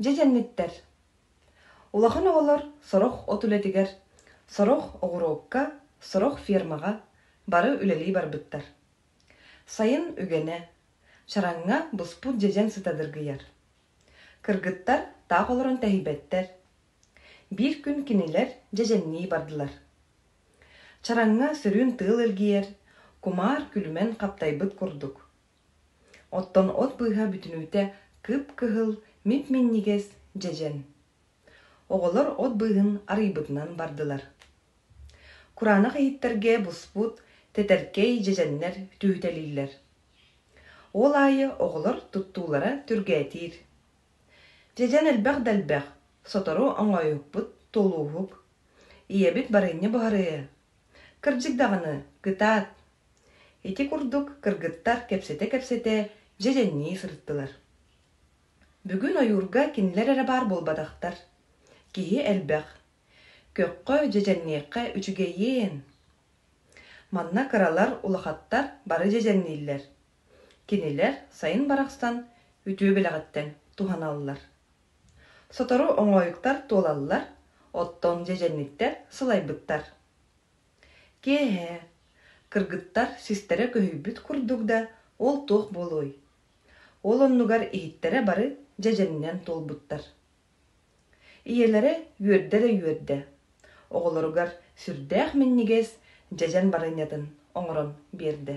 Дьэ кэнниттэр, улахан оҕолор сорох от үлэтигэр, сорох оҕуруокка, сорох фермаҕа бары үлэлии барбыттар. Сайын үгэнэ, чараҥҥа буспут дьэдьэн сыта дыргыйар. Кыргыттар таах олорон тэһийбэттэр, Биир күн кинилэр дьэдьэннии бардылар. Чараҥҥа сырыын тыал илгийэр, кумаар күлүмэн хаптайбыт курдук. Оттон от быыһа бүтүнүүтэ кып-кыһыл, мип-минньигэс дьэдьэн. Оҕолор от быыһын арыйбытынан бардылар. Кураанах иһиттэргэ буспут тэтэркэй дьэдьэннэр түһүтэлииллэр. Ол аайы оҕолор туттуулара түргээтиир. Дьэдьэн элбэх да элбэх, сотору оҥоойукпут, туолууһук. Ийэбит барыанньа буһарыйа. Кырдьык даҕаны, кытаат. Ити курдук кыргыттар кэпсэтэ-кэпсэтэ дьэдьэннии сырыттылар. Бүгүн ойуурга кинилэр эрэ баар буолбатахтар. Киһи элбэх. Көххө, дьэдьэнниэххэ үчүгэйиэн. Манна кыралар, улахаттар бары дьэдьэннииллэр. Кинилэр сайын барахсан үтүө бэлэҕиттэн туһаналлар. Сотору оҥоойуктар туолаллар, оттон дьэдьэнниттэр сылайбыттар. Киэһэ, кыргыттар систэрэ көһүйбүт курдук да, ол туох буолуой? Ол оннугар иһиттэрэ бары дьэдьэнинэн туолбуттар. Ийэлэрэ үөрдэрэ үөрдэ. Оҕолоругар сүрдээх минньигэс дьэдьэн барынньатын оҥорон биэрдэ.